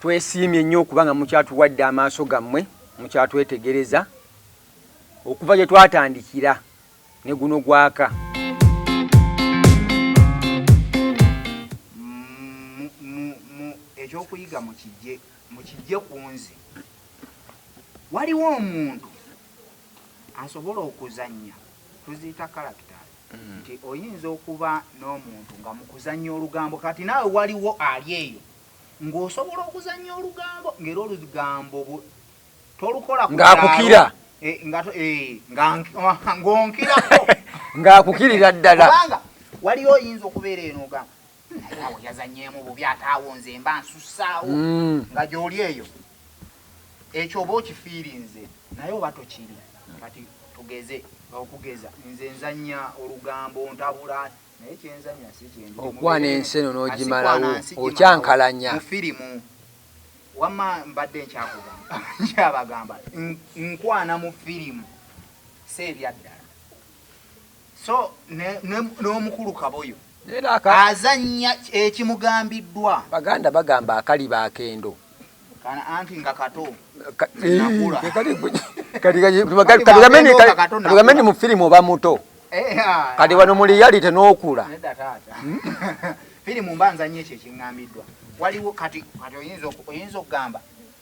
twesiimye nnyo okuba nga mukyatuwadde amaaso gammwe mukyatwetegereza okuva gye twatandikira ne guno gwaka ekyokuyiga mukijje ku nze waliwo omuntu asobola okuzannya tuziyita characters mm. nti oyinza okuba n'omuntu nga mukuzannya olugambo kati naawe waliwo ali eyo ng'osobola okuzannya olugambo ng'era olugambo tolukola ng'akukira eh, eh, ng'onkirako ng'akukirira ddala kubanga waliyo oyinza okubeera eno ogamba naye awo yazannyemu bubi ate awo nze mba nsussaawo mm. nga gy'oli eyo Ekyo oba okifiirinze naye oba tokiri. Kati tugeze, okugeza nze nzannya olugambo, ontabula naye kye nzannya si kye ndi. Okwana ensi eno n'ogimalawo, okyankalanya. Mu firimu. Wamma mbadde nkyakugamba, nkyabagamba nkwana mu firimu, si ebyaddala. so n'omukulu kaboyo azannya ekimugambiddwa baganda bagamba akaliba akendo kana anti nga kato kaligameni mu firimu oba muto eh, ah. kati wano mu liyalite n'okula hmm? firimu mba nzannya ekyo ekiŋŋambiddwa waliwo kati oyinza okugamba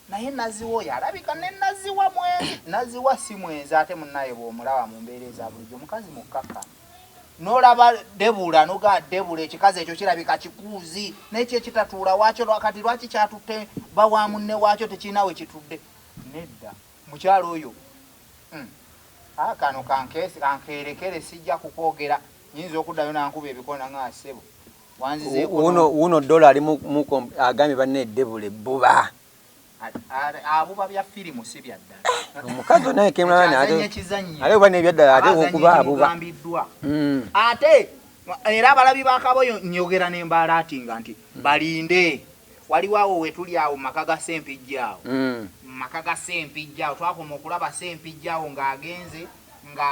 Naye Nazziwa oyo alabika ne Nazziwa mwenzi. Nazziwa si mwenzi ate munnaye bw'omulaba mu mbeera eza bulijjo mukazi mukkakkamu. N'olaba Debula noga Debula ekikazi ekyo kirabika kikuuzi naye kyo ekitatuula waakyo lwakati lwaki kyatutte ba wa munne waakyo tekirina we kitudde nedda mukyalo oyo hmm. ah, kano kankeerekere sijja kukwogera nyinza okuddayo nankuba ebikona nga asebo wuno dola ali muko agambye banne edebula ebbuba omukazi naye kemulabane ate oba nebyaddala ate okuba abuba hmm. ate era abalabi bakaboyo nyogera nembaala ati nga nti balinde waliwo awo wetuli awo mumaka ga sempijja awo hmm. mumaka ga sempijja awo twakoma okulaba sempijja awo ng'agenze nga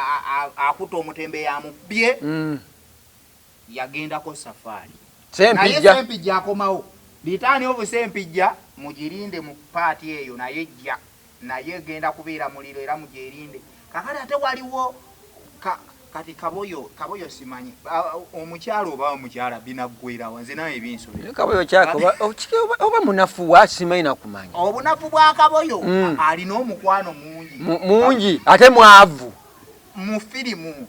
akuta omutembe yamubbye hmm. yagendako safari naye sempijja akomawo litaani ovu sempijja mujirinde mu part eyo nayo ejja nayo egenda kubeera muliro era mujerinde kakati ate waliwo ka kati kaboyo kaboyo simanyi omukyala oba omukyala binaggwerawa nze nawe ebinsobera kaboyo kyaka oba munafu wa simanyi nakumanya obunafu bwa kaboyo mm. alina omukwano mungi mungi ate mwavu mu firimu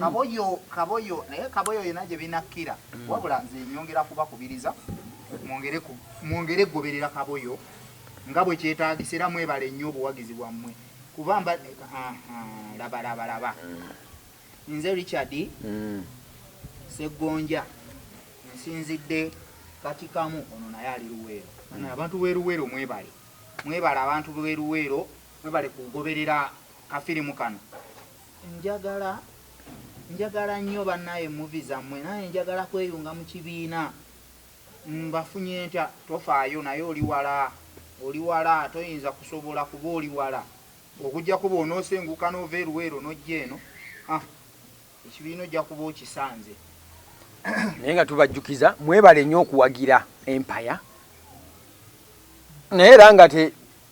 kaboyo kaboyo naye kaboyo yena gye binakkira mm. wabula nze nyongera kubakubiriza mwongere mwongere goberera kaboyo nga bwe kyetaagisa era mwebale nnyo obuwagizi bwammwe kuba mba labalabalaba mm. nze richard mm. seggonja nsinzidde katikamu ono naye ali luweero abantu beruweero mwebale mwebale abantu beruweero mwebale kugoberera kafirimu kano Njagala njagala nyo banaye movie zamwe naye njagala kweyunga mukibiina mbafunye ntya tofaayo naye oli wala oli wala toyinza kusobola kuba oli wala okujjako bwonosenguka nova e luweero nojja eno ah ekibiina ojja kuba okisanze. naye nga tubajjukiza mwebale nyo okuwagira empaya naye era nga te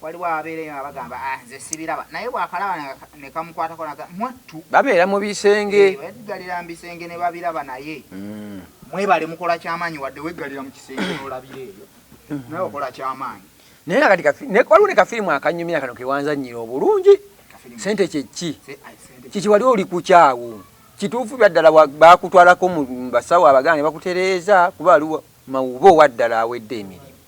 Waliwo ababeera eyo nga bagamba ah, nze sibiraba naye bwakalaba nekamukwatako naga mwattu babeera mu bisenge eh, weggalira mu bisenge ne babiraba naye mm. mwebale mukola kyamaanyi wadde weggalira mu kisenge nolabira eyo mm-hmm. naye okola kyamaanyi naye nakati waliwo ne kafirimu akanyumira kano kewanzanyira obulungi sente kyekki kiki wali oli kukyawo kituufu byaddala bakutwalako mu basawo abaganga ne bakutereeza kuba aliwo mawuba owaddala awedde emirimu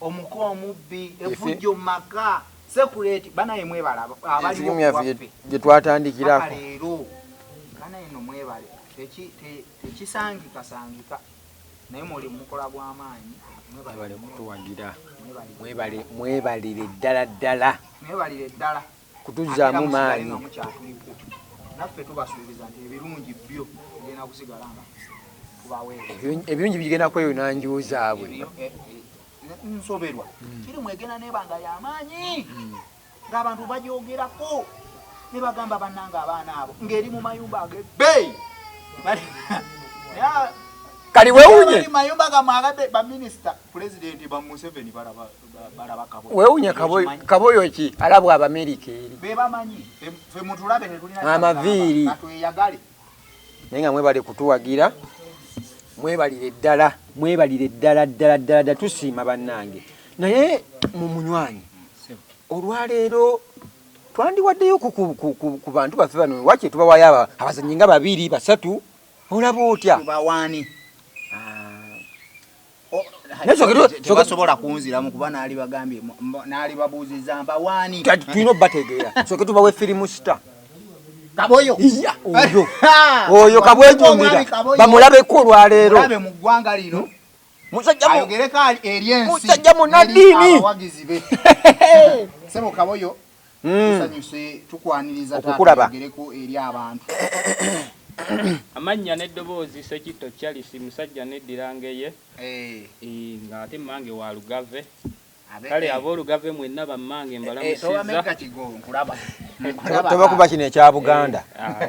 omuko omubbi efujjo maka sekuleti banaye mwebala abaliwo waffe jetwatandikirako leero banaye no mwebale tekisangikasangika naye mwoli mukola gwamaanyi mwebale kutuwagira mwebalire ddala ddala mwebalire ddala kutuzzaamu maanyi. Ebirungi bigenda kweyuna nju zaabwe. Eh, nsoberwa hmm. kiri mwegenda nebanga yamaanyi hmm. ngaabantu bajogerako nebagamba bananga abaana abo ngaeri mu mayumba agebei kaliwewunye mayumba gamwagade baminisita pulezidenti bamuseveni balaba wewunya kaboyo ki alabwa abamerika eri amaviiri naye nga mwebale kutuwagira mwebalire ddala mwebalire ddala ddala ddala dda tusiima bannange naye mu munywanyi olwaleero twandiwaddeyo ku bantu baffe bano wakye tubawayo abazanyi nga babiri basatu olaba otya tebasobola kunziramu kuba naali bagambye naali babuuziza mbawaani tulina obategeera soke tubawe firimu sita kaboyo oyo kabwejumbira bamulabeko olwaleero mu ggwanga lino musajja munaddiini sebo kaboyo Mm. Tusanyuse tukwaniriza taata yogereko eri abantu. Amannya n'eddoboozi, Ssekitto Charles, musajja anneddira Ngeye eh. eh, ng'ate mmange wa Lugave. Kale eh. ab'Olugave mwenna bammange mbalamusizza. Tobakuba kino ekya Buganda. Ah,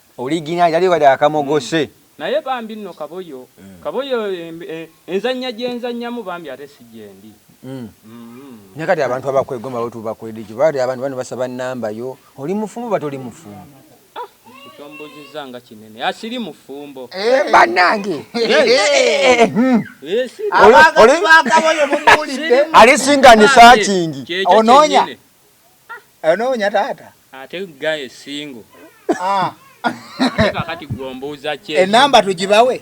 Original yali wade akamogose. Naye bambi nno kaboyo kaboyo enzanya gyenzanyamu bambi ate si gyendi uhmm. Naye kati abantu abakwegomba bo tubakoledeki bade abantu bano basaba number yo oli mufumbo oba toli mufumbo. Kyombuuzizza nga kinene asiri ah, mufumbo eh, banange alisinga nisakingi ononya Onoonya taata? Ate guy single. Ah. Ate kakati gwe ombuuza ki? Enamba tugibawe?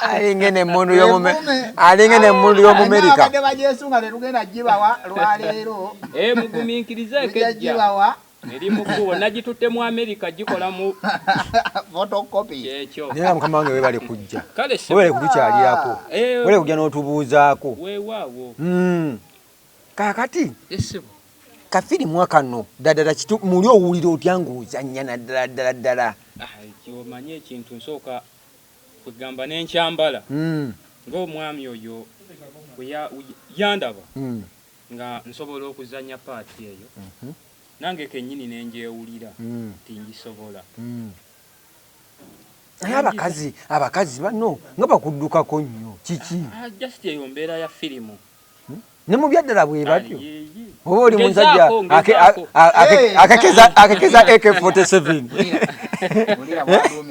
alinga eno emmundu alinga eno emmundu y'omumerika abadde bagyesunga tetugenda gibawa lwaleero eh, mugumiikirize ekejja Eri mu kkubo nagitutte mu Amerika gikola mu photocopy. Kyekyo. Naye nga mukama wange webale kujja. Kale ssebo. Webale kutukyalirako. Ah, eh. Webale kujja n'otubuuzaako. Weewaawo. Mm. Kaakati. Yes ssebo. Kafirimu akano ddala kitu muli owulira otya ng'ozannya naddala ddala ddala. Ah, omanyi ekintu nsooka kwegamba n'enkyambala. Mm. Ng'omwami oyo yandaba. Mm. nga nsobola okuzannya part eyo nange kennyini ne ngyewulira nti ngisobola. Naye abakazi abakazi banno nga bakuddukako nnyo kiki? Just eyo mbeera ya firimu. Ne mu byaddala bwe batyo oba oli musajja akekeza AK47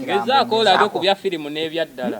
ngezaako olabe ku bya firimu n'ebyaddala.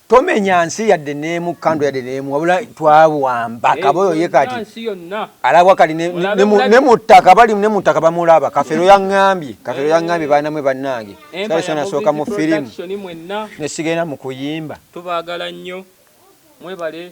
tomenya nsi yadde neemu kando yadde neemu wabula twawamba eh, kaboyo ye kati alabwa kati ne mu ttaka bali ne mu ttaka bamulaba kafero yaŋŋambye kafero eh. yaŋŋambye baana mwe bannange eh, sali sona sooka mu firimu ne sigenda mu kuyimba tubagala nnyo mwebale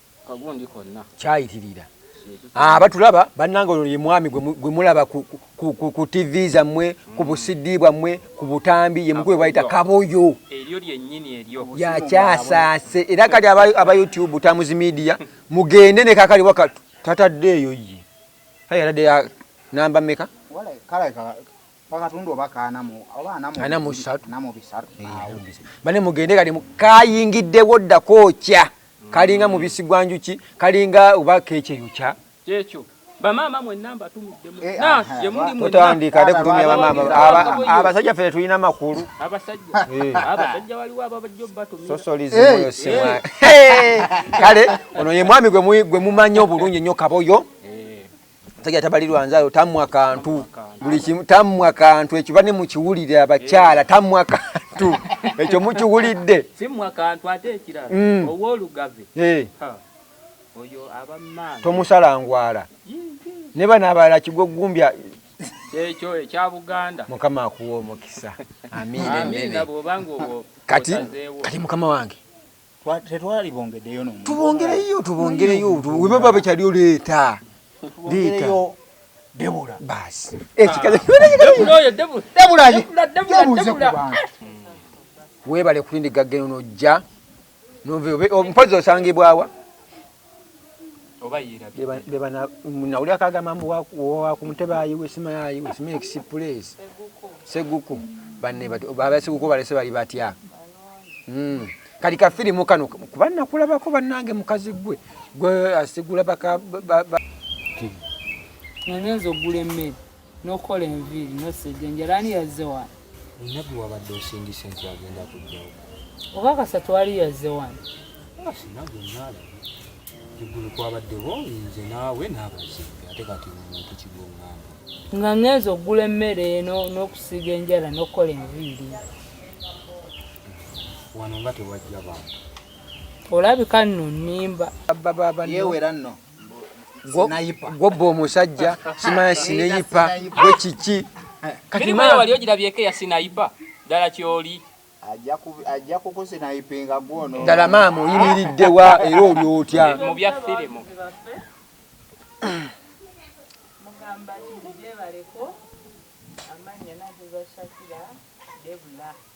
kyayitirira ah, batulaba bannanga oyo ye mwami gwe mulaba ku tv zammwe ku busidi bwammwe ku butambi ye mukulu bayita kaboyo yakyasaase era kati aba youtube tamuzi media mugende ne kakali waka tataddeeyo ye kale yatadde ya namba meka wakatundu oba kaanamu oba anamu bisatu anamu bisatu bane mugende kali kayingidde wodda kookya kalinga mm. mubisi gwa njuki kalinga oba keche yokya kyekyo bamaama mwenna mbatumidde eh, ah, mutandika ate kutumya bamaama abasajja ffe tetulina makulu abasajja waliwo ababajja obatumira kale ono ye mwami gwe mumanyi obulungi nnyo kaboyo musajja tabalirwa nzayo tamwa kantu buli kimu tamwa kantu ekyo bane mukiwulire abakyala eh. tamwa kantu ekyo mukiwulidde simwa kantu ate ekirala mm. owolugave eh. oyo abammaa tomusala ngwala ne bana abala kigo gumbya ekyo ekya buganda mukama akuwa omukisa amiina amiina bwobanga obwo kati kati mukama wange tetwalibongedeyo nomu tubongereyo tubongereyo weba baba kyali oleeta leeta debula basi ekikaza eh, ah. debula debula debula debula webale kulindiga geno nojja nove mpozi osangibwawa oba yerabye bebana nawulira kagamba mbu wa ku ntebe ayiwe sima ayiwe sima express seguku banne bati baba seguku balese bali batya mm kali ka film kano kuba nakulaba ko banange mukazi gwe gwe asigula baka nyenzo gule mmere n'okukola enviiri n'osejjenjera ani yazze wano nabbi wabadde osindise nti agenda kujjawo oba kasatu ali yazze wano sinabwe naalaba eggulu kwabaddewo nze naawe n'abazimbi ate kati omuntu kigongamba nga ngenza okugula emmere eno n'okusiiga enjala n'okukola enviiri wano nga tewajja bantu olabika nno nnimba yeewera nno gwobba omusajja simanya sineyipa gwe kiki wali ogirabyeko eya sinayipa ddala kyoli ajja kukusinayipinga gwono ddala maama oyimiridde wa era oli otya mu bya firimu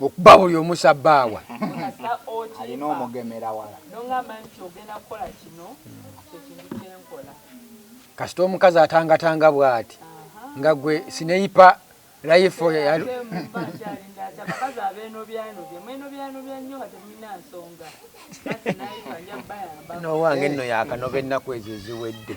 okuba buli omusa baawa alina omugemera wala kasita omukazi atangatanga bwati nga gwe sineyipa life nowange nno yakanoba ennaku ezo eziwedde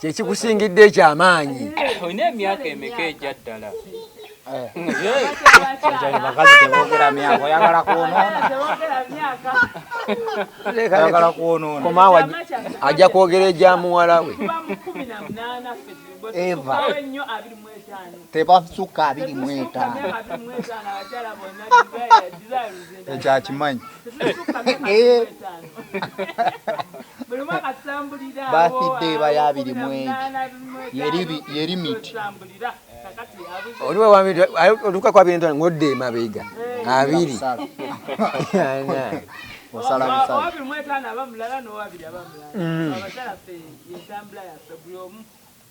kyekikusingidde ekyamaanyi eh, olina emyaka emeka egya ddala bakazi tebogera myaka oyagala kwonoonayagala kwonoona komaawa ajja kwogera egya muwala we eva tebasuka abiri mu etaano ekyo akimanyi bathidde eba ya abiri mu egi yeri miti otuka ku abiri ntano ngodde emabega abiri osala busala mm.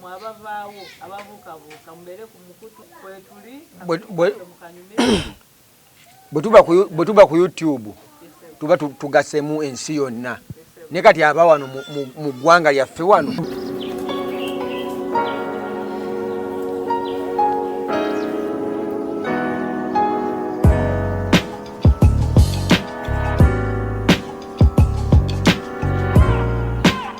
mwe abavaawo ababuukabuuka mubeere ku mukutu kwetuli bwe tuba ku youtube tuba tugasemu ensi yonna ne kati aba wano mu ggwanga lyaffe wano